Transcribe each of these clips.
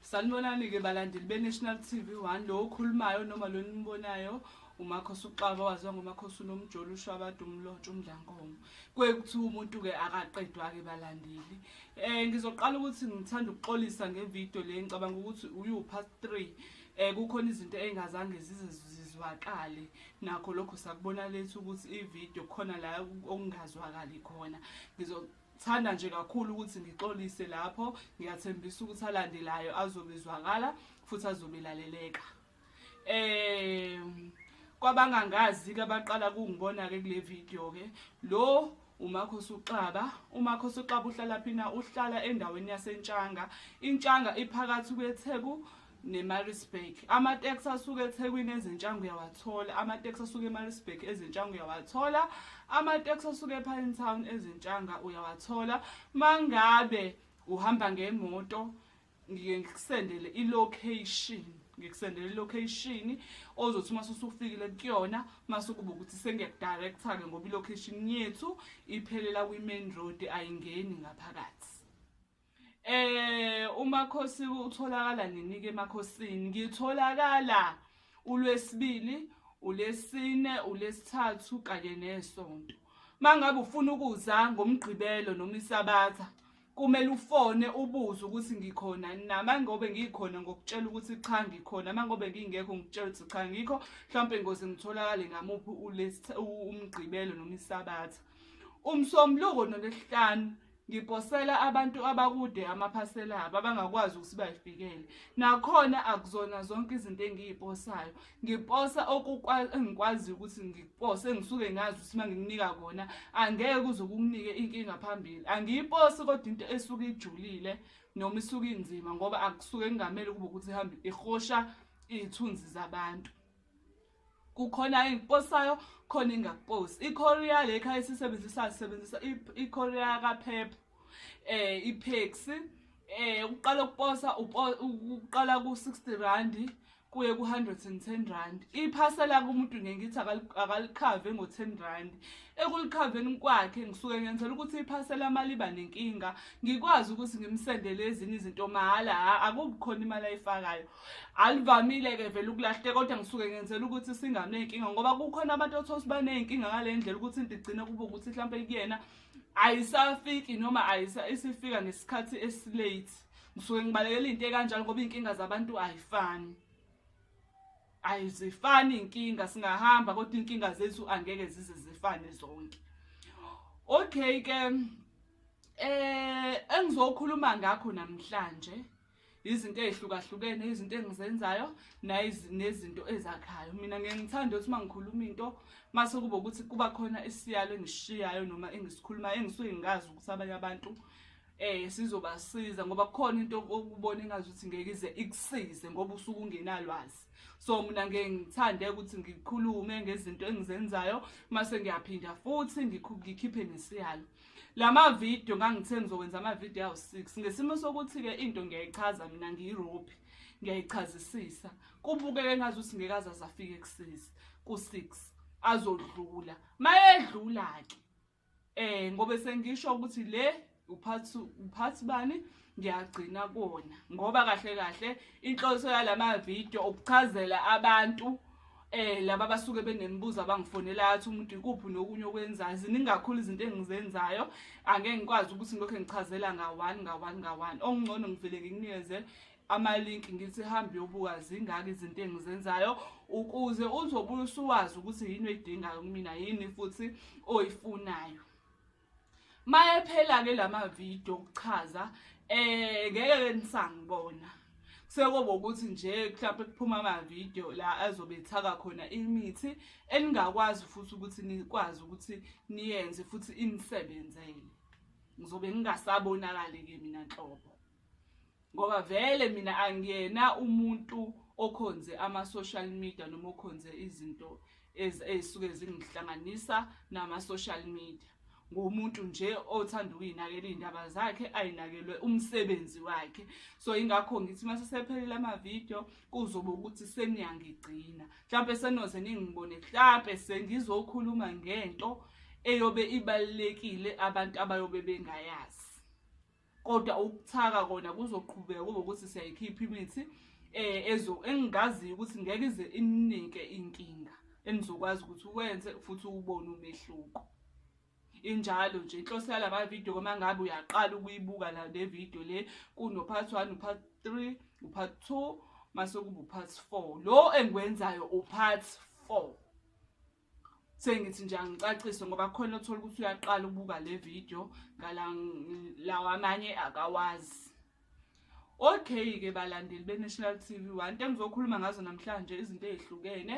Sanibonani-ke balandeli be-National TV One lo okhulumayo noma lo nimbonayo umakhosi uxaba waziwa ngomakhosi unomjolo ushwabada umlontsha umdlankomo kuye kuthiwa umuntu-ke akaqedwa-ke balandeli um ngizoqala ukuthi ngithanda ukuxolisa ngevidiyo le ngicabanga ukuthi uyiwupast three eh kukhona izinto engazange zize zizwakale nakho lokho sakubona lethu ukuthi ivideo khona la okungazwakali khona ngizothanda nje kakhulu ukuthi ngixolise lapho ngiyathembisa ukuthi alandelayo azobizwakala futhi azobelaleleka eh kwabangangazi ke abaqala kungibona ke kule video ke lo umakho suxaba umakho suxaba uhlala phina uhlala endaweni yasentshanga intshanga iphakathi kwetheku nemarisburg amateksi asuke ethekwini ezintshango uyawathola amateksi asuke emarisburg ezintshango uyawathola amateksi asuke epine town ezintshanga uyawathola mangabe uhamba ngemoto ngike ngikusendele ilocation ngikusendele ilocation ozothi uma usufikile kuyona mase kuba ukuthi sengiyakudirector-ke ngoba ilocation yethu iphelela kwi-main road ayingeni ngaphakathi Eh umakhosi utholakala nini ke emakhosini? Ngitholakala ulwesibili, ulesine, ulesithathu kanye nesonto. Mangabe ufuna ukuza ngomgqibelo noma isabatha kumele ufone ubuze ukuthi ngikhona na mangobe ngikhona ngokutshela ukuthi cha ngikhona mangobe ngingekho ngikutshela ukuthi cha ngikho mhlawumbe ngoze ngitholakale ngamuphi umgqibelo noma isabatha umsombuluko nolesihlanu Ngiposela abantu abakude amaphasela abo abangakwazi ukuthi bayifikele. Nakhona akuzona zonke izinto engiyiposayo. Ngiposa okukwazi ukuthi ngikupose ngisuke ngazi ukuthi mangikunika kona angeke uze ukunike inkinga phambili. Angiyiposi kodwa into esuke ijulile noma isuke inzima ngoba akusuke kungamele kube ukuthi ihamba ihosha izithunzi zabantu. kukhona engiposayo khona ingakuposi i-korea le khaya esisebenzisa sisebenzisa i-korea kaphepha um ipeksi um eh, ukuqala ukuposa ukuqala ku-sixty randi kuye ku-hundred and ten rand iphasela kumuntu nge ngithi akalikhave ngo-ten rand ekulikhaveni kwakhe ngisuke ngenzela ukuthi iphasela imali iba nenkinga ngikwazi ukuthi ngimsendele ezinye izinto mahhala akubikhona imali ayifakayo alivamile ke vele ukulahleka kodwa ngisuke ngenzela ukuthi singanenkinga ngoba kukhona abantu othola ukuthi baney'nkinga ngale ndlela ukuthi into igcine kube ukuthi mhlawumpe kuyena ayisafiki noma isifika ngesikhathi esilate ngisuke ngibalekela into ekanjalo ngoba iy'nkinga zabantu ayifani ayizifani iy'nkinga singahamba kodwa iy'nkinga zethu angeke zize zifane zonke okay ke eh engizokhuluma ngakho namhlanje izinto ezihlukahlukene izinto engizenzayo nezinto ezakhayo mina ngeke ngithande ukuthi uma ngikhuluma into mase kube ukuthi kuba khona isiyalo engishiyayo noma engisikhulumayo engisuke ngikazi ukuthi abanye abantu eh sizobasiza ngoba kukhona into okubona engazi ukuthi ngeke ize ikusize ngoba usuke ungenalwazi so mina ngeke ngithande ukuthi ngikhulume ngezinto engizenzayo mase ngiyaphinda futhi ngikhiphe nesiyalo lama video ngangithe ngizokwenza ama video awu 6 ngesimo sokuthi ke into ngiyayichaza mina ngiyirope ngiyayichazisisa kubukeke ngazi ukuthi ngekaza zafika ekusisi ku 6 azodlula mayedlula ke eh ngobe sengisho ukuthi le uphathi uphathi bani ngiyagcina kona ngoba kahle kahle inhloso yalama video ukuchazela abantu eh laba basuke benemibuzo abangifonela athi umuntu ikuphi nokunye okwenzayo ziningakhulu izinto engizenzayo angeke ngikwazi ukuthi ngilokho ngichazela ngawani ngawani ngawani okungcono ngivele ngikunikeze ama-link ngithi hambe yobuka zingaki izinto engizenzayo ukuze uzobuye usuwazi ukuthi yini oyidingayo kumina yini futhi oyifunayo mayephela ke lama video okuchaza eh ngeke ke nisangibona sekuba ukuthi nje mhlawumbe kuphuma ama video la azobe ethaka khona imithi eningakwazi futhi ukuthi nikwazi ukuthi niyenze futhi inisebenzele ngizobe ngingasabonakali ke mina nhlobo ngoba vele mina angiyena umuntu okhonze ama-social media noma okhonze izinto ezisuke zingihlanganisa nama-social media ngumuntu nje othanda ukuyinakela iy'ndaba zakhe ayinakelwe umsebenzi wakhe so ingakho ngithi uma sesephelile amavidiyo kuzobe ukuthi seniyangigcina mhlawumpe senoze ningibone mhlawumpe sengizokhuluma ngento eyobe ibalulekile abantu abayobe bengayazi kodwa ukuthaka kona kuzoqhubeka kube ukuthi siyayikhipha imithi eh ezo engingaziyo ukuthi ngeke ize ininike inkinga enizokwazi ukuthi uwenze futhi ubone umehluko injalo nje inhloso yalama video uma ngabe uyaqala ukuyibuka la le video le kuno part 1 u part 3 u part 2 mase kuba u part 4 lo engikwenzayo u part 4 sengithi nje angicacise ngoba khona othola ukuthi uyaqala ukubuka le video ngala lawa amanye akawazi okay ke balandeli beNational TV one into engizokhuluma ngazo namhlanje izinto ezihlukene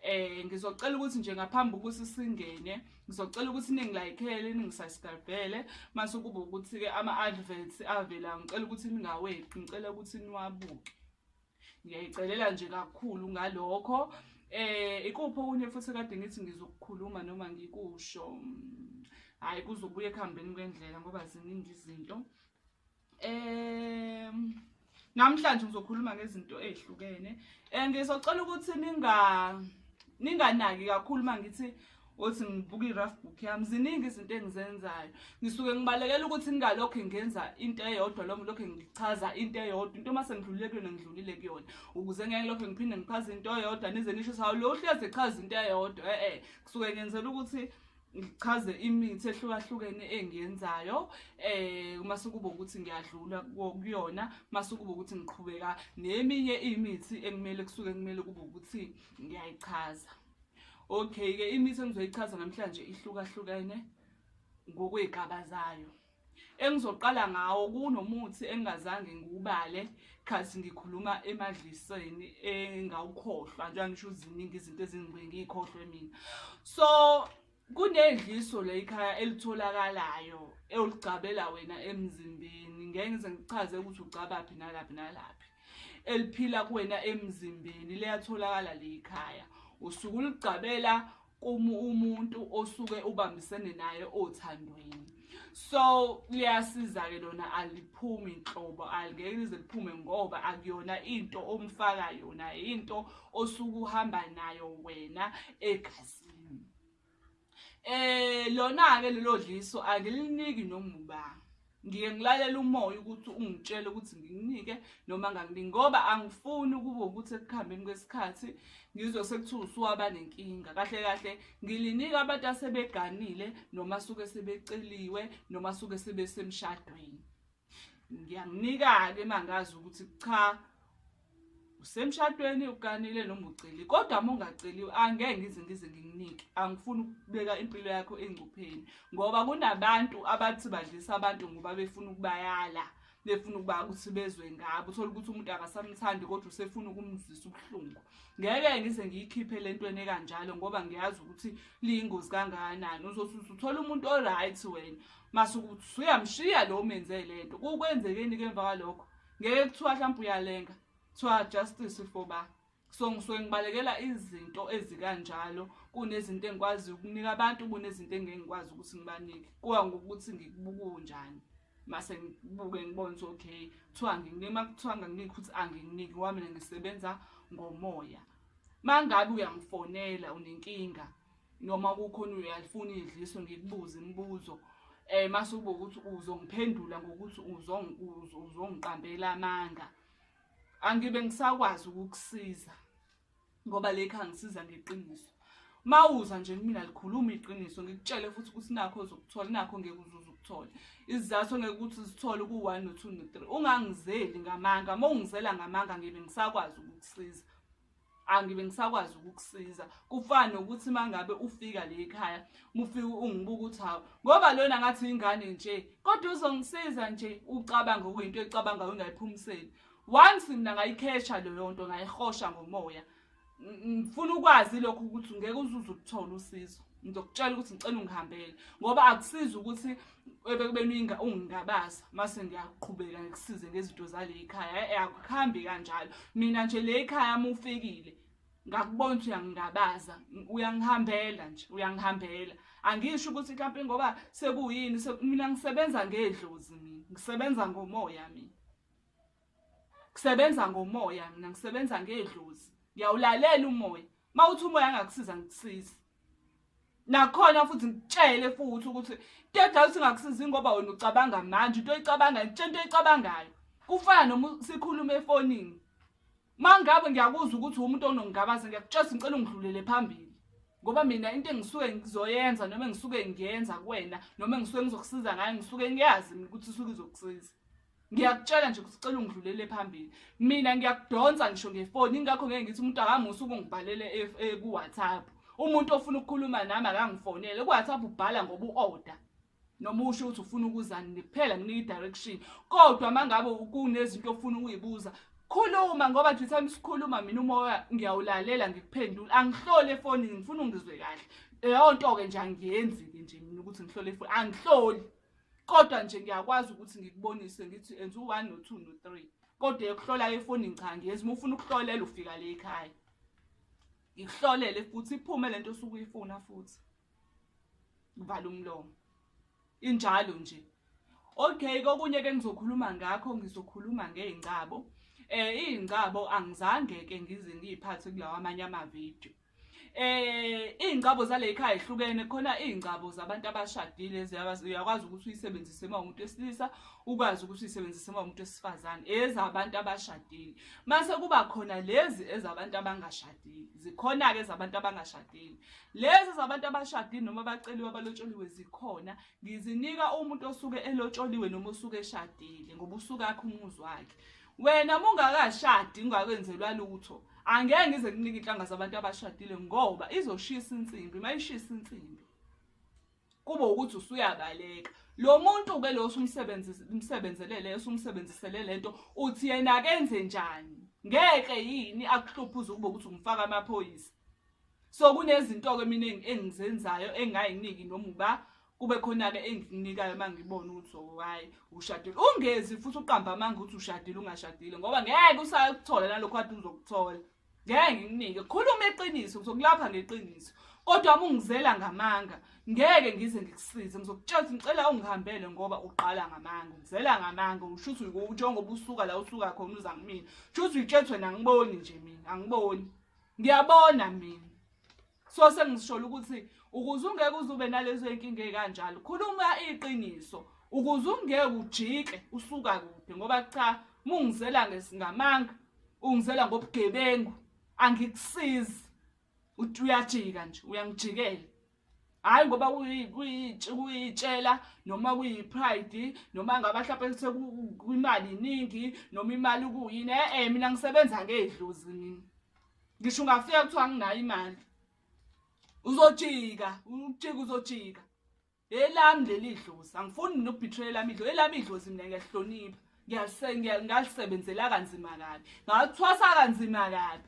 eh ngizocela ukuthi nje ngaphambi ukuthi singene ngizocela ukuthi ningilayikhele ningisasibhele mase kuba ukuthi ke ama adverts avela ngicela ukuthi ningaweqi ngicela ukuthi niwabuke ngiyayicelela nje kakhulu ngalokho eh ikuphi okunye futhi kade ngithi ngizokukhuluma noma ngikusho hayi kuzobuya ekuhambeni kwendlela ngoba ziningi izinto eh namhlanje ngizokhuluma ngezinto ezihlukene eh ngizocela ukuthi ninga ninganaki kakhulu mangithi othi ngibuka i-rough book yami ziningi izinto engizenzayo ngisuke ngibalekela ukuthi ngingalokhu ngenza into eyodwa lo lokhu ngichaza into eyodwa into uma sengidlulile kuyona ngidlulile kuyona ukuze ngeke lokhu ngiphinde ngichaze into eyodwa nize nisho sawu lo uhlezi echaza into eyodwa e-e kusuke ngenzela ukuthi ngichaze imithi ehlukahlukene engiyenzayo eh uma sekuba ukuthi ngiyadlula kuyona uma sekuba ukuthi ngiqhubeka neminye imithi ekumele kusuke kumele kube ukuthi ngiyayichaza Okay ke imithi engizoyichaza namhlanje ihlukahlukene ngokwezigaba zayo. Engizoqala ngawo kunomuthi engingazange ngiwubale khathi ngikhuluma emadliseni engawukhohlwa njengoba ngisho uziningi izinto ezingibengikhohlwe mina. So kunedliso leyikhaya elitholakalayo ewuligcabela wena emzimbeni ngeke ngize ngichaze ukuthi ugcabaphi nalaphi nalaphi eliphila kuwena emzimbeni liyatholakala leyikhaya usuke uligcabela uma umuntu osuke ubambisene naye othandweni so liyasiza-ke lona aliphumi nhlobo alingeke lize liphume ngoba akuyona into omfaka yona into osuke uhamba nayo wena egazini Eh lona ke lelo dliso angiliniki noma ubani. Ngike ngilalela umoya ukuthi ungitshele ukuthi nginginike noma nganginiki ngoba angifuni ukuba ukuthi ekuhambeni kwesikhathi ngizwe sekuthiwa usuwaba nenkinga. Kahle kahle ngilinika abantu asebeganile noma suke sebeceliwe noma suke sebesemshadweni. ngiyakunika-ke mangazi ukuthi cha usemshadweni uganile noma uceli kodwa uma ungaceliwe angeke ngize ngize ngikunike angifuni ukubeka impilo yakho engcupheni ngoba kunabantu abathi badlisa abantu ngoba befuna ukubayala befuna ukuba ukuthi bezwe ngabo uthole ukuthi umuntu akasamthandi kodwa usefuna ukumzisa ubuhlungu ngeke ngize ngiyikhiphe le ntweni ekanjalo ngoba ngiyazi ukuthi liyingozi kangakanani uzothi uthole umuntu o-right wena masukuthi usuyamshiya lo menze le nto kukwenzekeni ke emva kwalokho ngeke kuthiwa mhlawumpe uyalenga kuthiwa justice for ba so ngisuke ngibalekela izinto ezikanjalo kunezinto engikwazi ukunika abantu kunezinto engeke ngikwazi ukuthi ngibanike kuwa ngokuthi ngikubukunjani mase ngibuke ngibone ukuthi okay kuthiwa nginike uma kuthiwa nganginiki ukuthi anginginiki wami mina ngisebenza ngomoya mangabe uyangifonela unenkinga noma kukhona uyalifuna idliso ngikubuze imibuzo eh mase ube ukuthi uzongiphendula ngokuthi uzongiqambela amanga angibe ngisakwazi ukukusiza ngoba lekha ngisiza ngeqiniso mawuza nje kumina likhuluma iqiniso ngikutshele futhi ukuthi nakho uzokuthola nakho ngeke uzuze ukuthola izizathu ngeke ukuthi zithole ku-one no-two no-three ungangizeli ngamanga uma ungizela ngamanga ngibe ngisakwazi ukukusiza angibe ngisakwazi ukukusiza kufana nokuthi mangabe ufika le ekhaya mufike ungibuka ukuthi hawu ngoba lona ngathi ingane nje kodwa uzongisiza nje ucabanga okuyinto ecabanga ungayiphumiseli once mina ngayikhesha leyo nto ngayihosha ngomoya ngifuna ukwazi lokho ukuthi ngeke uzuze ukuthola usizo ngizokutshela ukuthi ngicela ungihambele ngoba akusizi ukuthi ebekubeninga ungingabaza mase ngiyaqhubeka ngikusize ngezinto zale ekhaya eh, akuhambi kanjalo mina nje le ekhaya uma ufikile ngakubona ukuthi uyangingabaza uyangihambela nje uyangihambela angisho ukuthi mhlawumpe ngoba sekuyini mina ngisebenza ngedlozi mina ngisebenza ngomoya mina kusebenza ngomoya mina ngisebenza ngedlozi ngiyawulalela umoya mawuthi umoya angakusiza ngikusiza nakhona futhi ngitshele futhi ukuthi tedla uthi ngakusiza ngoba wena ucabanga manje into oyicabanga into oyicabangayo kufana noma sikhuluma efonini mangabe ngiyakuzwa ukuthi umuntu onongabaza ngiyakutshela ngicela ungidlulele phambili ngoba mina into engisuke ngizoyenza noma engisuke ngiyenza kuwena noma engisuke ngizokusiza ngayo ngisuke ngiyazi mina ukuthi usuke izokusiza ngiyakutshela nje ukuthi cela ungidlulele phambili mina ngiyakudonsa ngisho ngefoni ingakho ngeke ngithi umuntu akamusa ukungibhalele e-, e-, ku-whatsapp umuntu ofuna ukukhuluma nami akangifonele ku-whatsapp ubhala ngoba u-order noma usho ukuthi ufuna ukuzani ngiphela nginika i-direction kodwa uma ngabe kunezinto ofuna ukuyibuza khuluma ngoba nje time sikhuluma mina umoya ngiyawulalela ngikuphendula angihlole efonini ngifuna ungizwe kahle leyo nto-ke nje angiyenzi-ke nje mina ukuthi ngihlole efoni angihloli kodwa nje ngiyakwazi ukuthi ngikubonise ngithi enza u-one no-two no-three kodwa yokuhlola efonini cha ngiyenza uma ufuna ukuhlolela ufika le ekhaya ngikuhlolele futhi iphume le nto osuke uyifuna futhi ngivala umlomo injalo nje okay kokunye ke ngizokhuluma ngakho ngizokhuluma ngey'ngcabo um eh, iy'ngcabo angizange-ke ngize ngiyiphathe kulawa amanye amavidiyo eh ingcabo zale ekhaya ihlukene khona ingcabo zabantu abashadile ziyakwazi uyakwazi ukuthi uyisebenzise uma umuntu wesilisa ukwazi ukuthi uyisebenzise uma umuntu wesifazane ezabantu abashadile mase kuba khona lezi ezabantu abangashadile zikhona ke ezabantu abangashadile lezi zabantu abashadile noma baceliwe abalotsholiwe zikhona ngizinika umuntu osuke elotsholiwe noma osuke eshadile ngoba usuka akhe umuzi wakhe wena uma ungakashadi ungakwenzelwa lutho angeke ngize kunike inhlanga zabantu abashadile ngoba izoshisa insimbi uma ishisa insimbi kube ukuthi usuyabaleka lo muntu ke lo usumsebenzelele usumsebenzisele lento uthi yena akenze njani ngeke yini akuhluphe uze kube ukuthi umfaka amaphoyisa so kunezinto ke mina engizenzayo engayiningi noma uba kube khona-ke engikunikayo uma ngibona ukuthi owayi oh, ushadile ungezi futhi uqamba amanga ukuthi ushadile ungashadile ngoba ngeke usakuthola nalokho kade uzokuthola ngeke ngikunike khuluma iqiniso ngizokulapha ngeqiniso kodwa uma ungizela ngamanga ngeke ngize ngikusize ngizokutshela ukuthi ngicela ungihambele ngoba uqala ngamanga ungizela ngamanga usho ukuthi njengoba usuka la usuka khona uza kumina sho ukuthi uyitshethwe nangiboni nje mina angiboni ngiyabona mina so sengisholo ukuthi ukuze ungeke uzube nalezo inkinga ekanjalo khuluma iqiniso ukuze ungeke ujike usuka kude ngoba cha mungizela ngesingamanga ungizela ngobugebengu angikusizi uthi uyajika nje uyangijikela hayi ngoba kuyitshela noma kuyipride noma ngaba mhlawumbe sekwimali iningi noma imali kuyini e-e mina ngisebenza ngey'dlozi mina ngisho ungafika kuthiwa nginayo imali uzojika ujika uzojika elami leli dlozi angifuni nokubhithela elami idlozi elami idlozi mina ngiyahlonipha ngalisebenzela kanzima kabi ngathwasa kanzima kabi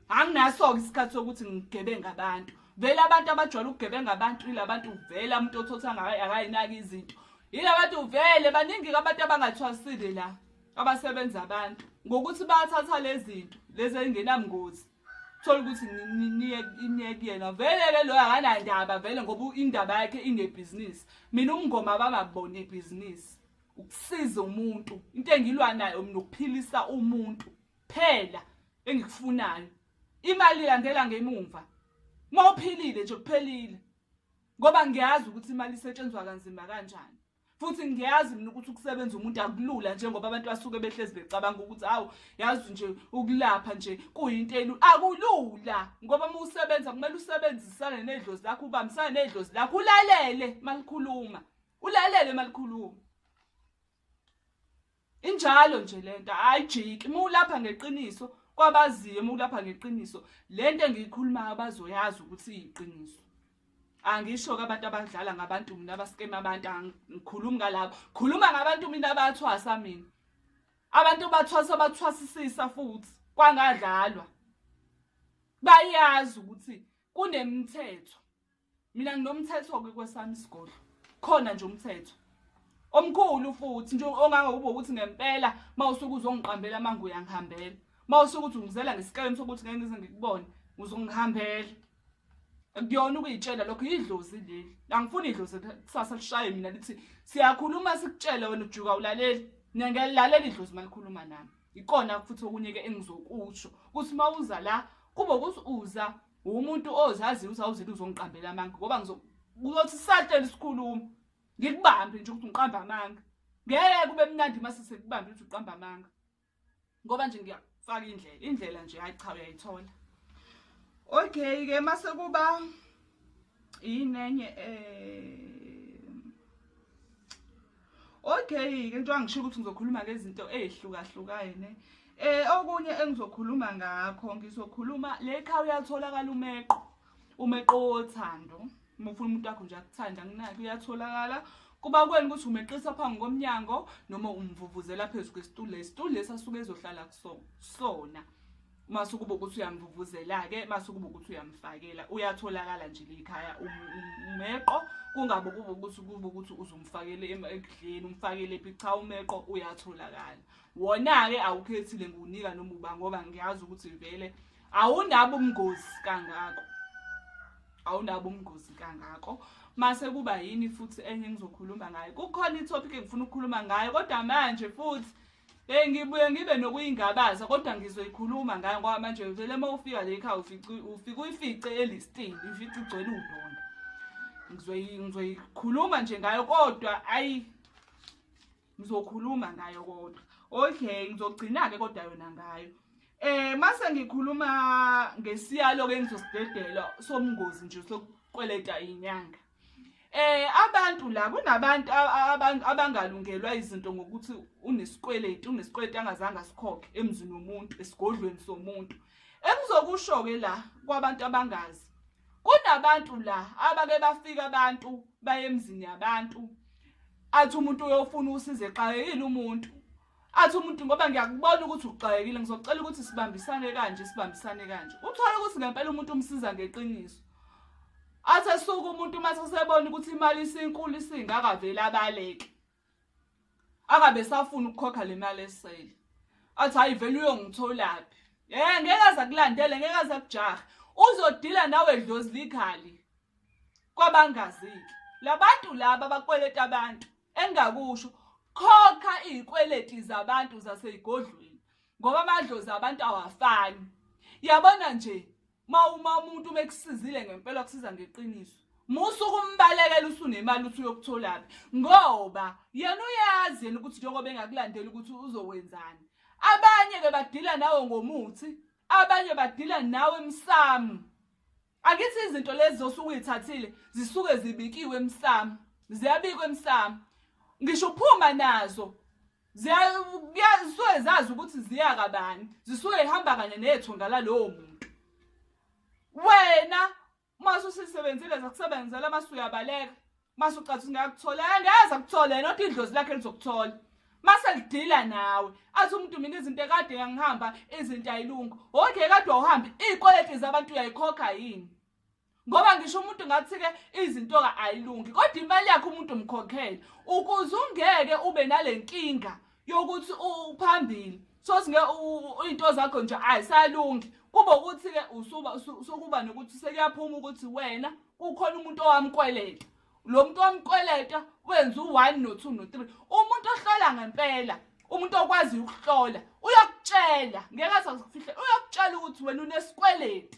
anginaso-ke isikhathi sokuthi ngigebenga abantu vele abantu abajwayele ukugebenga abantu ilabantu vele umuntu othotha akayinaki izinto yilabantu vele baningi-ke abantu abangathwasile la abasebenza abantu ngokuthi bathatha lezinto lezi engenamngozi thola ukuthi niyekuyena vele-ke loyo akanandaba vele ngoba indaba yakhe inebhizinisi mina umngoma abangakubona ibhizinisi ukusiza umuntu into engilwa nayo mina ukuphilisa umuntu phela engikufunayo imali ilandela ngemumva uma uphilile nje kuphelile ngoba ngiyazi ukuthi imali isetshenzwa kanzima kanjani futhi ngiyazi mina ukuthi ukusebenza umuntu akulula njengoba abantu basuke behlezi becabanga ukuthi awu yazi nje ukulapha nje kuyinto elu akulula ngoba uma usebenza kumele usebenzisane nedlozi lakho ubambisane nedlozi lakho ulalele malikhuluma ulalele malikhuluma Injalo nje lento ayijiki uma ulapha ngeqiniso kwabaziyo uma ulapha ngeqiniso lento engiyikhulumayo bazoyazi ukuthi iyiqiniso angisho ke abantu abadlala ngabantu mina abaskema abantu angikhulumi ngalabo khuluma ngabantu mina abathwasa mina abantu bathwasa bathwasisisa futhi kwangadlalwa bayazi ukuthi kunemithetho Mina nginomthetho ke kwesami isigodlo. Khona nje umthetho. Omkhulu futhi nje ongangokuba ukuthi ngempela mawusuke uzongiqambela manje uyangihambela. Mawusuke ukuthi ungizela ngesikhathi sokuthi ngeke ngize ngikubone uzongihambela. Kuyona ukuyitshela lokho idlozi leli. Angifuni idlozi kusasa lishaye mina lithi siyakhuluma sikutshela wena ujuka ulaleli. Mina ngiyalalela idlozi malikhuluma nami. Ikona futhi okunye ke engizokusho. Kuthi mawuza la kube ukuthi uza umuntu ozaziyo ukuthi awuzile uzongiqambela amanga ngoba ngizokuyothi satshela isikhuluma ngikubambe nje ukuthi ngiqamba amanga ngeke kube mnandi uma sesekubambe ukuthi uqamba amanga ngoba nje ngiyafaka indlela indlela nje hayi cha uyayithola okay ke mase kuba yinenye eh Okay ke njengoba ngisho ukuthi ngizokhuluma ngezinto ezihlukahlukene eh okunye engizokhuluma ngakho ngizokhuluma leqha uyatholakala umeqo umeqo wothando uma ufuna umuntu wakho nje akuthanda nginaki uyatholakala kuba kweni ukuthi umeqisa phambi komnyango noma umvuvuzela phezu kwesitulo lesitulo lesasuke ezohlala kusona mase ukuba ukuthi uyamvuvuzela-ke mase ukuba ukuthi uyamfakela uyatholakala nje likhaya um, um, umeqo kungabe kuba ukuthi kuba ukuthi uzumfakele ekudleni umfakele phi cha umeqo uyatholakala wona-ke awukhethile ngiwunika noma uba ngoba ngiyazi ukuthi vele awunabo ubungozi kangako awunabo ubungozi kangako mase kuba yini futhi enye engizokhuluma ngayo kukhona ithopic engifuna ukukhuluma ngayo kodwa manje futhi Eh ngibuye ngibe nokuyingabaza kodwa ngizoyikhuluma ngayo ngoba manje vele uma ufika le ekhaya ufica ufika uyifice elistini ufica igcwele udonda. Ngizoyi ngizoyikhuluma nje ngayo kodwa ayi ngizokhuluma ngayo kodwa. Okay ngizogcina ke kodwa yona ngayo. Eh mase ngikhuluma ngesiyalo ke ngizosidedelwa somngozi nje sokukweleta inyanga. Eh abantu la kunabantu abangalungelwa izinto ngokuthi unesikweleti unesikweleti angazange asikhokhe emzini womuntu esigodlweni somuntu ekuzokusho ke la kwabantu abangazi kunabantu la abake bafika abantu baye emzini yabantu athi umuntu uyofuna usize eqale yini umuntu athi umuntu ngoba ngiyakubona ukuthi uxakekile ngizocela ukuthi sibambisane kanje sibambisane kanje uthole ukuthi ngempela umuntu umsiza ngeqiniso athe suku umuntu uma sesebona ukuthi imali isinkulu isingaka vele abaleke akabe safuna ukukhokha le mali esele athi hayi vele uyongitholaphi eh ngeke aza kulandele ngeke aza kujaha uzodila nawe dlozi likhali kwabangaziki labantu laba bakweleta abantu engakusho khokha izikweleti zabantu zasezigodlweni ngoba amadlozi abantu awafani yabona nje mawuma umuntu mekusizile ngempela kusiza ngeqiniso musuku umbalekela usunemali uthi uyokutholaphi ngoba yena uyazi yena ukuthi njengoba engakulandeli ukuthi uzokwenzani abanye ke badila nawe ngomuthi abanye badila nawe emsamu Akithi izinto lezi zosuke uyithathile zisuke zibikiwe emsamo. Ziyabikwa emsamo. Ngisho uphuma nazo zisuke zazi ukuthi ziya kabani. Zisuke ihamba kanye nethonga lalowo muntu. Wena uma ususisebenzile zakusebenzela masuyabaleka. mase ucathi singakuthola angeze akuthole yena othi idlozi lakhe lizokuthola mase lidila nawe athi umuntu mina izinto ekade ngangihamba izinto ayilungu okay kade wawuhambe iy'kweleti zabantu uyayikhokha yini ngoba ngisho umuntu ngathi-ke izinto-ke ayilungi kodwa imali yakhe umuntu umkhokhele ukuze ungeke ube nale nkinga yokuthi uphambili sothi nge into zakho nje ayisalungi kube ukuthi ke usuba sokuba nokuthi sekuyaphuma ukuthi wena kukhona umuntu owamkweleta lo muntu owamkweleta wenza u-1 no-2 no-3 umuntu ohlola ngempela umuntu okwaziyo ukuhlola uyakutshela ngeke aze akufihle uyakutshela ukuthi wena unesikweleti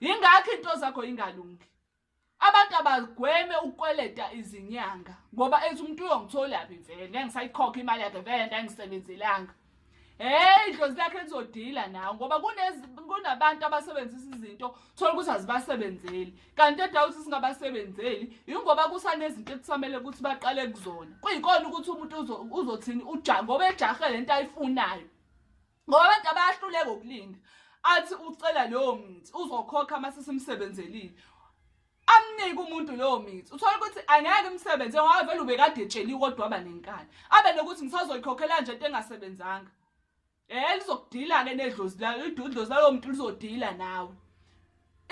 yingakho into zakho ingalungi abantu abagweme ukukweleta izinyanga ngoba ethi umuntu uyongitholaphi vele ngeke ngisayikhokha imali yakhe vele nto angisebenzelanga heyi idlozi lakhe lizodila nawo ngoba kunabantu abasebenzisa izinto thola ukuthi azibasebenzeli kanti edawu ukuthi singabasebenzeli yingoba kusanezinto ekusamele ukuthi baqale kuzona kuyikona ukuthi umuntu uzothini uja ngoba ejahe le nto ayifunayo ngoba abantu abayahluleka ukulinda athi ucela leyo mithi uzokhokha uma sesimsebenzelile amnike umuntu leyo mithi uthola ukuthi angeke umsebenzi ngoba vele ubekade etsheliwe kodwa aba nenkani abe nokuthi ngisazoyikhokhela nje into engasebenzanga eh lizokudila-ke nedlozi layo idlozi lalowo muntu lizodila nawe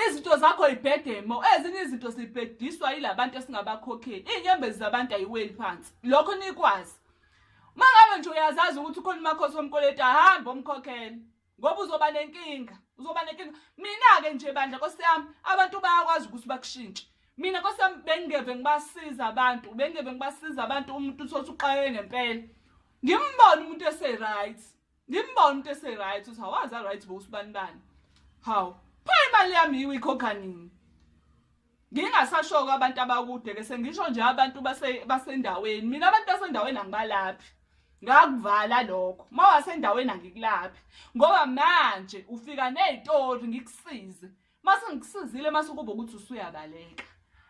Izinto zakho ibhedemo, ezinye izinto sibhediswa yilabantu esingabakhokheli. Inyembezi zabantu ayiweli phansi. Lokho nikwazi. Mangabe nje uyazazi ukuthi ukhona umakhosi omkoleti ahamba omkhokhele ngoba uzoba nenkinga. Uzoba nenkinga. Mina ke nje bandla nkosiyami abantu bayakwazi ukuthi bakushintshe. Mina nkosiyami bengingeve ngibasiza abantu, bengingeve ngibasiza abantu umuntu uthi uxakeke ngempela. Ngimbona umuntu ese right. ngimbona umuntu ese-right ukuthi hawazi a-right bo usibani bani hawu pha imali yami yiwe ikhokha nini ngingasashoko abantu abakude ke sengisho nje abantu basendaweni mina abantu basendaweni angibalaphi ngakuvala lokho uma wasendaweni angikulaphi ngoba manje ufika ney'tori ngikusize mase ngikusizile mase ukuba ukuthi usuyabaleka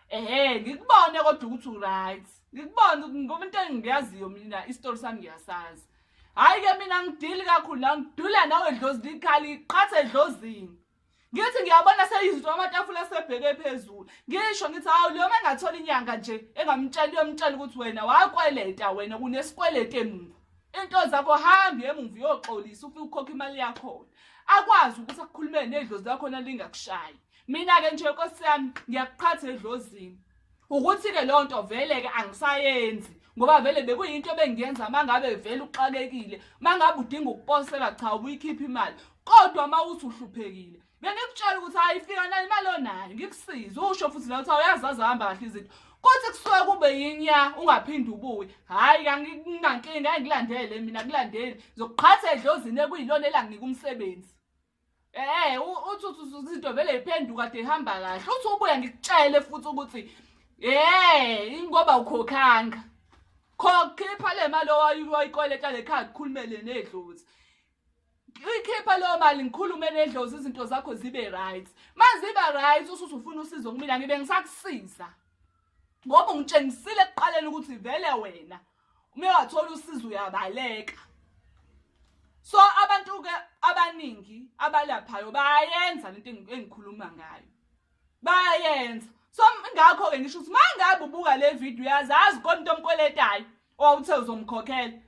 ehe ngikubone kodwa ukuthi uright ngikubone ngoba into engiyaziyo mina isitori sami ngiyasazi hhayi ke mina ngidili kakhulu la ngidula nawe dlozini ikhali iqhathe edlozini ngithi ngiyabona seyizinto amatafula asebheke phezulu ngisho ngithi hawu leyo uma engathola inyanga nje engamtshela uyomtshela ukuthi wena wakweleta wena kunesikweleti emuva into zakho hambi emuva uyoxolisa ufike ukhokha imali yakhona akwazi ukuthi akukhulumele nedlozi lakhona lingakushayi mina-ke nje nkosi yami ngiyakuqhatha edlozini ukuthi-ke leyo nto vele-ke angisayenzi ngoba vele bekuyinto ebengiyenza uma ngabe vele uxakekile uma ngabe udinga ukuposela cha ubuyikhipha imali kodwa uma uthi uhluphekile bengikutshela ukuthi hayi fika nani imali onayo ngikusize usho futhi la ukuthi awuyazi azihamba kahle izinto kuthi kusuke kube yinya ungaphinde ubuye hhayi kanginankinga engikulandele mina kulandeli zokuqhatha edlozini ekuyilona elanginika umsebenzi Eh uthi uthi into vele iphenduka de ihamba kahle uthi ubuya ngikutshele futhi ukuthi eh ingoba ukhokhanga khokha iphale imali owayikoleta lekhaya kukhulumele nedlozi Ngikhipha leyo mali ngikhulume nedlozi izinto zakho zibe right. Maziba right usuthi ufuna usizo kumina ngibe ngisakusiza. Ngoba ungitshengisile ekuqaleni ukuthi vele wena uma wathola usizo uyabaleka. So abantu ke abaningi abalaphayo bayayenza lento engikhuluma ngayo. Bayayenza. So ngakho ke ngisho ukuthi mangabe ubuka le video uyazazi konto omkweletayo. owawuthe oh, uzomkhokhela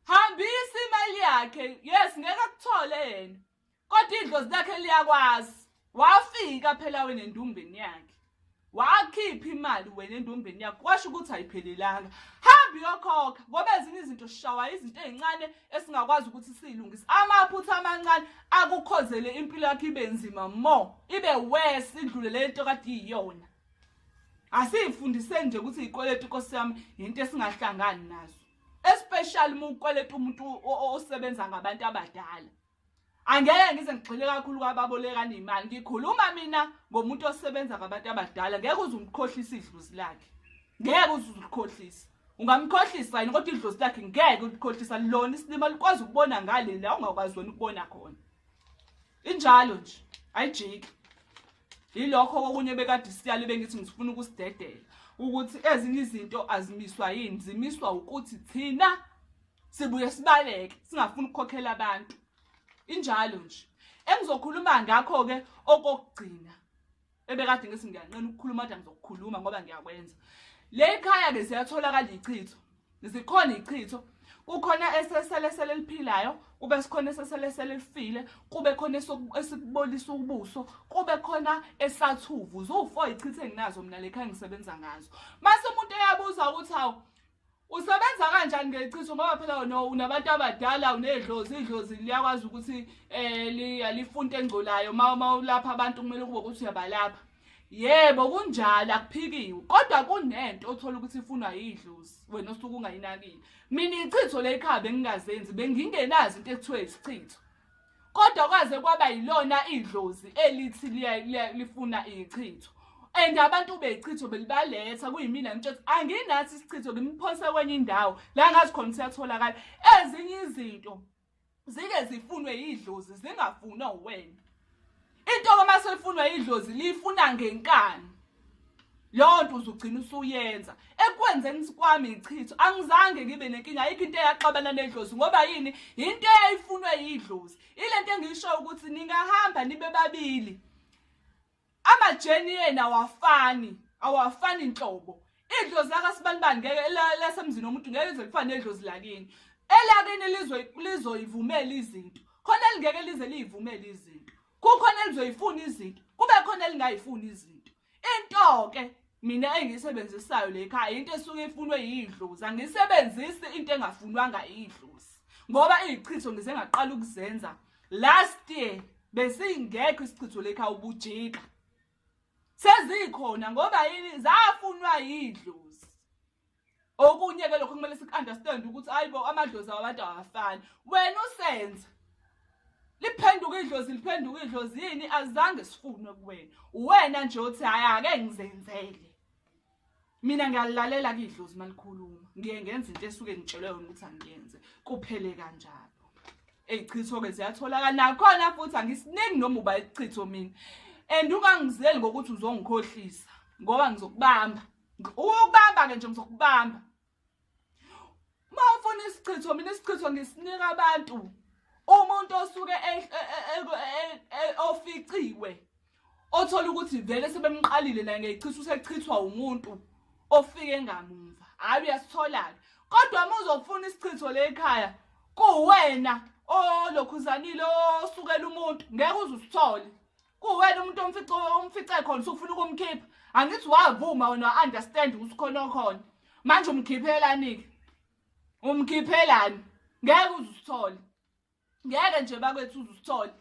hambisa imali yakhe yes ngeke akuthole yena kodwa idlozi lakhe liyakwazi wafika phela wena endumbeni yakhe wakhipha imali wena endumbeni yakho kwasho ukuthi ayiphelelanga hambi yokhokha ngoba ezinye izinto sishawa izinto ezincane esingakwazi ukuthi silungise amaphutha amancane akukhozele impilo yakho ibe nzima mo ibe worse idlule lento kade iyona asiyifundiseni nje ukuthi izikweletu inkosi yami yinto esingahlangani nazo especially uma ukweleta umuntu osebenza ngabantu abadala angeke ngize ngigxile kakhulu kwababolekana imali ngikhuluma mina ngomuntu osebenza ngabantu abadala ngeke uze umkhohlise idlozi lakhe ngeke uze ulikhohlise ungamkhohlisa yini kodwa idlozi lakhe ngeke ulikhohlisa lona isilima likwazi ukubona ngale la ungakwazi wena ukubona khona injalo nje ayijiki yilokho kokunye bekade isiyalo bengithi ngifuna ukusidedela ukuthi ezinye izinto azimiswa yini zimiswa ukuthi thina sibuye sibaleke singafuni ukukhokhela abantu injalo nje engizokhuluma ngakho-ke okokugcina ebekade ngithi ngiyanqena ukukhuluma kodwa ngizokukhuluma ngoba ngiyakwenza le khaya-ke ziyatholakala ichitho zikhona ichitho kukhona eseselesele eliphilayo kube sikhona eseselesele elifile kube khona esibolisa ubuso kube khona esathuvu ziwu-four ichithe enginazo mina lekha ngisebenza ngazo mase umuntu eyabuza ukuthi hawu usebenza kanjani ngechitho ngoba phela no unabantu abadala unedlozi idlozi liyakwazi ukuthi um lifunte engcolayo uma ulapha abantu kumele kube ukuthi uyabalapha yebo kunjalo akuphikiwe kodwa kunento othola ukuthi ifunwa yidlozi wena osuke ungayinakile mina ichitho lekhaya bengingazenzi bengingenazi into ekuthiwa isichitho kodwa kwaze kwaba yilona idlozi elithi lifuna ichitho and abantu beyichitho belibaletha kuyimina ngitsho ukuthi anginathi isichitho ngimphose kwenye indawo la ngazi khona siyatholakala ezinye izinto zike zifunwe yidlozi zingafunwa uwena into uma sefunwa yidlozi liyifuna ngenkani leyo nto uzugcina usuyenza ekwenzeni kwami ichitho angizange ngibe nenkinga ayikho into eyaxabana nedlozi ngoba yini yinto eyayifunwe yidlozi ile nto engiyishoyo ukuthi ningahamba nibe babili amajeni ena awafani awafani nhlobo idlozi lakasibanibani ngeke lasemzini womuntu ngeke lize lifane nedlozi lakini elakini lizoyivumela izinto khona elingeke lize liyivumele izinto kukhona elizoyifuna izinto kube khona elingayifuni izinto into-ke mina engiyisebenzisayo le khaya into esuke ifunwe yidlozi angisebenzisi into engafunwanga idlozi ngoba iyichitho ngize ngaqala ukuzenza last year besingekho isichitho lekha ubujika sezikhona ngoba yini zafunwa yidlozi okunye ke lokho kumele sikunderstand ukuthi ayibo amadlozi awabantu awafani wena usenza liphenduka idlozi liphenduka idlozi yini azange sifunwe kuwena uwena nje uthi hayi ake ngizenzele mina ngiyalalela kidlozi malikhuluma ngiye ngenza into esuke ngitshelwe yona ukuthi angiyenze kuphele kanjalo eyichitho ke ziyatholakala nakhona futhi angisiningi noma uba ichitho mina and ungangizeli ngokuthi uzongikhohlisa ngoba ngizokubamba ukubamba ke nje ngizokubamba mawufuna isichitho mina isichitho ngisinika abantu umuntu osuke e- e- e- oficiwe othola ukuthi vele sebemqalile la ngechitha usechithwa umuntu ofike ngamumva hayi uyasitholaka kodwa uma uzofuna isichitho le ekhaya kuwena olokhuzanile osukela umuntu ngeke uzusithole kuwena umuntu omfice omfice khona usufuna ukumkhipha angithi wavuma wena understand ukuthi khona okhona manje umkhiphelani ke umkhiphelani ngeke uzusithole ngeke nje bakwethu uzusithole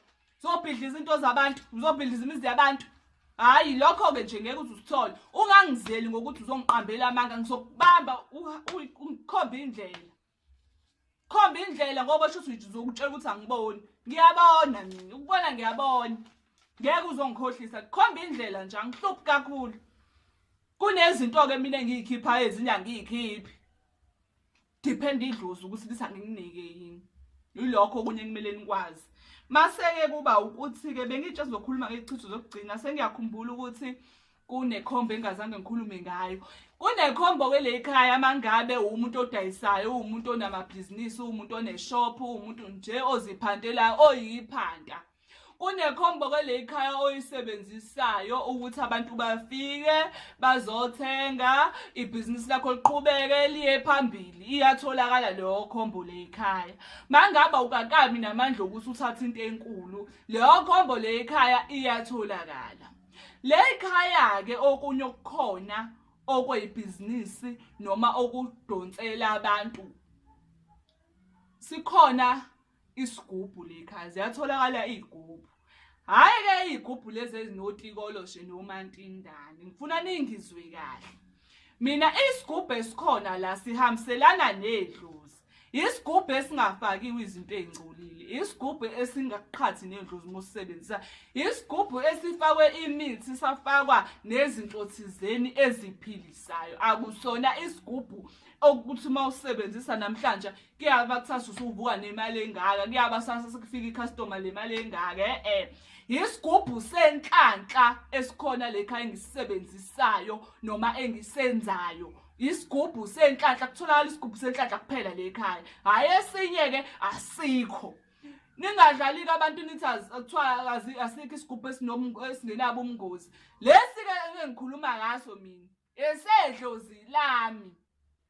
uzobhidla izinto zabantu uzobhidla izimizi yabantu hayi lokho-ke nje ngeke uze usithole ungangizeli ngokuthi uzongiqambela amanga ngizokubamba ukhombe indlela khomba indlela ngoba sho ukuthi uzokutshela ukuthi angiboni ngiyabona mina ukubona ngiyabona ngeke uzongikhohlisa khomba indlela nje angihluphi kakhulu kunezinto-ke mina engiyikhiphayo ezinye angiyikhiphi depend idlozi ukuthi lisa ngikunike yini yilokho okunye kumele nikwazi maseke kuba ukuthi-ke bengitshe sizokhuluma ngechitho zokugcina sengiyakhumbula ukuthi kunekhombo engazange ngikhulume ngayo kunekhombo kwelekhaya mangabe umuntu odayisayo uwumuntu onamabhizinisi uwumuntu oneshop uwumuntu nje oziphantelayo oyiphanta kunekhombo kwelekhaya oyisebenzisayo ukuthi abantu bafike bazothenga ibhizinisi lakho liqhubeke liye phambili iyatholakala leyo khombo lekhaya mangaba ukakami namandla okuthi uthathe into enkulu leyo khombo lekhaya iyatholakala Le khaya-ke okunye okukhona okweyibhizinisi noma okudonsela abantu sikhona isigubhu lekhaya ziyatholakala iy'gubhu hhayi-ke iy'gubhu lezi ezinotikoloshe nomantindane ngifuna ningizwe kahle mina isigubhu esikhona la sihambiselana nedlozi isigubhu esingafakiwe izinto ey'ngcolile isigubhu esingaqhathi nendlu zima usisebenzisa isigubhu esifakwe imithi safakwa nezinto thizeni eziphilisayo akusona isigubhu okuthi uma usebenzisa namhlanje kuyaba kusasa usuvuka nemali engaka kuyaba sasa sekufika icustomer le mali engaka eh, eh. yisigubhu senhlanhla esikhona lekha engisisebenzisayo noma engisenzayo isigubhu senhlanhla kutholakala isigubhu senhlanhla kuphela le ekhaya hhayi esinye-ke asikho ningadlali-ke abantu nithi kuthiwa asikho isigubhu esingenabo ubungozi lesi-ke engikhuluma ngaso mina esedlozi lami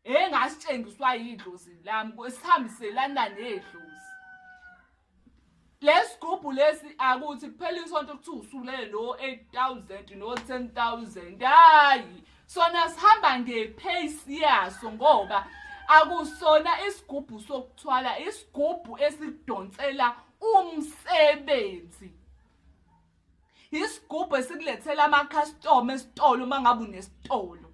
engasitshengiswa yidlozi lami sihambiselana nedlozi lesigubhu lesi akuthi kuphela isonto kuthiwa usulele no-8000 no-10000 hayi sona sihamba ngepace yaso ngoba akusona isigubhu sokuthwala isigubhu esidonsela umsebenzi isigubhu esikulethela amakhastoma esitolo uma ngabe unesitolo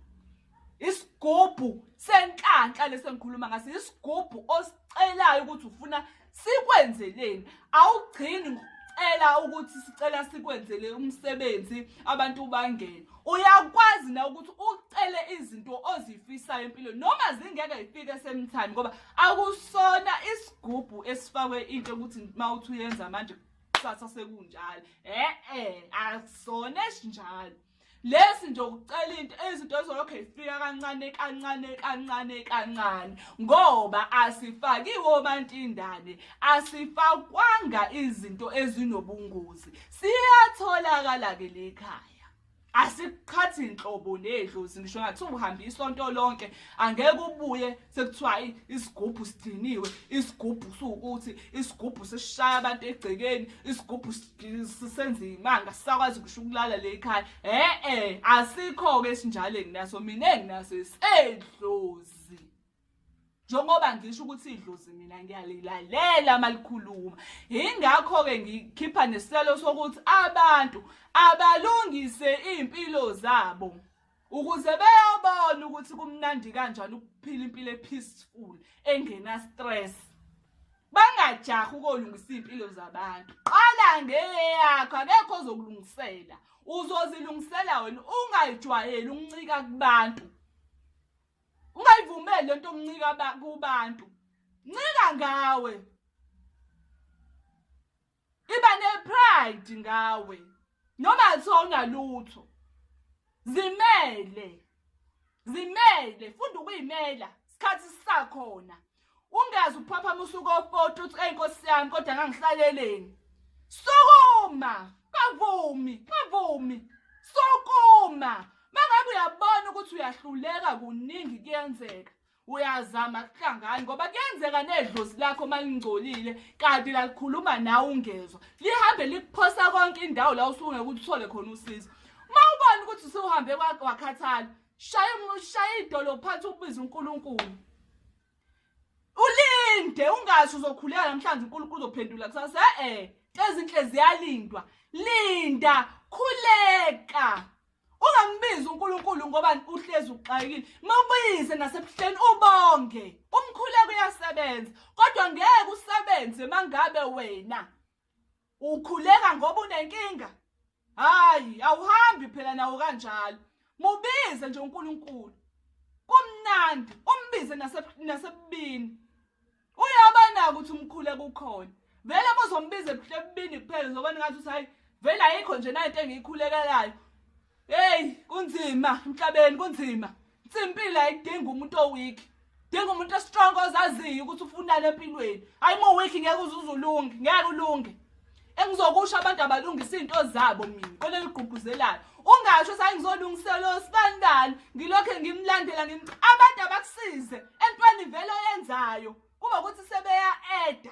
isigubhu senhlanhla lesi engikhuluma ngaso isigubhu osicelayo ukuthi ufuna sikwenzeleni awugcini ngokucela ukuthi sicela sikwenzele umsebenzi abantu bangene uyakwazi na ukuthi ucele izinto ozifisayo empilweni noma zingeke zifike esemthani ngoba akusona isigubhu esifakwe into ukuthi uma uthi uyenza manje kusasa sekunjalo e-e akusona esinjalo lesi nje ukucela into izinto ezolokhu zifika kancane kancane kancane kancane ngoba asifakiwe obantindane asifakwanga izinto ezinobungozi siyatholakala ke lekhaya asikuqhathi nhlobo nedlozi ngisho ngathi uhambe isonto lonke angeke ubuye sekuthiwa hayi isigubhu sidiniwe isigubhu sukuthi isigubhu sishaya abantu egcekeni isigubhu senza imanga sisakwazi ngisho ukulala le ekhaya e-e asikho-ke esinjalo enginaso mina enginaso isedlozi njengoba ngisho ukuthi idlozi mina ngiyalilalela malikhuluma ingakho-ke ngikhipha nesicelo sokuthi abantu abalungise iy'mpilo zabo ukuze beyobona ukuthi kumnandi kanjani ukuphila impilo e-peaceful engena-stress bangajahi ukolungisa iy'mpilo zabantu qala ngeyakho akekho ozokulungisela uzozilungisela wena ungayijwayeli ukuncika kubantu ungayivumeli lento omncika kubantu ncika ngawe iba ne pride ngawe noma sona lutho zimele zimele funda ukuyimela isikhathi sisakhona ungazi ukuphaphama usuku ofoti uthi eyi nkosi yami kodwa ngangihlaleleni sukuma kavumi kavumi sukuma mangabe uyabona ukuthi uyahluleka kuningi kuyenzeka uyazama kuhlangani ngoba kuyenzeka nedlozi lakho uma lingcolile kanti lalikhuluma nawe ungezwa lihambe likuphosa konke indawo la usungeke uthole khona usizo uma ubona ukuthi usuhambe wakhathala shaya shaya idolo phansi ukubiza uNkulunkulu ulinde ungazi uzokhuleka namhlanje uNkulunkulu uzophendula kusasa eh, eh ezinhle ziyalindwa linda khuleka ungambizi uNkulunkulu ngoba uhlezi uxakile mabuyize nasebuhleni ubonge umkhuleko uyasebenza kodwa ngeke usebenze mangabe wena Ukhuleka ngoba unenkinga? Hayi, awuhambi phela nawo kanjalo. Mubize nje uNkulunkulu. Kumnandi, umbize nase nasebini. Uyaba nako ukuthi umkhule kukhona. Vele bozombiza ebubini kuphela zoba ningathi uthi hayi vele ayikho nje nayo into engiyikhulekelayo. Hey, kunzima emhlabeni kunzima. Simpilo ayidingi umuntu oweak. Dinga umuntu ostrong ozaziyo ukuthi ufunani empilweni. Hayi mo weak ngeke uzuzulunge, ngeke ulunge. Engizokusho abantu abalungisa izinto zabo mina, kolelo gqugquzelayo. Ungasho sengizolungisela osibandani, ngilokhe ngimlandela ngim abantu abakusize entweni vele oyenzayo. Kuba ukuthi sebeya eda.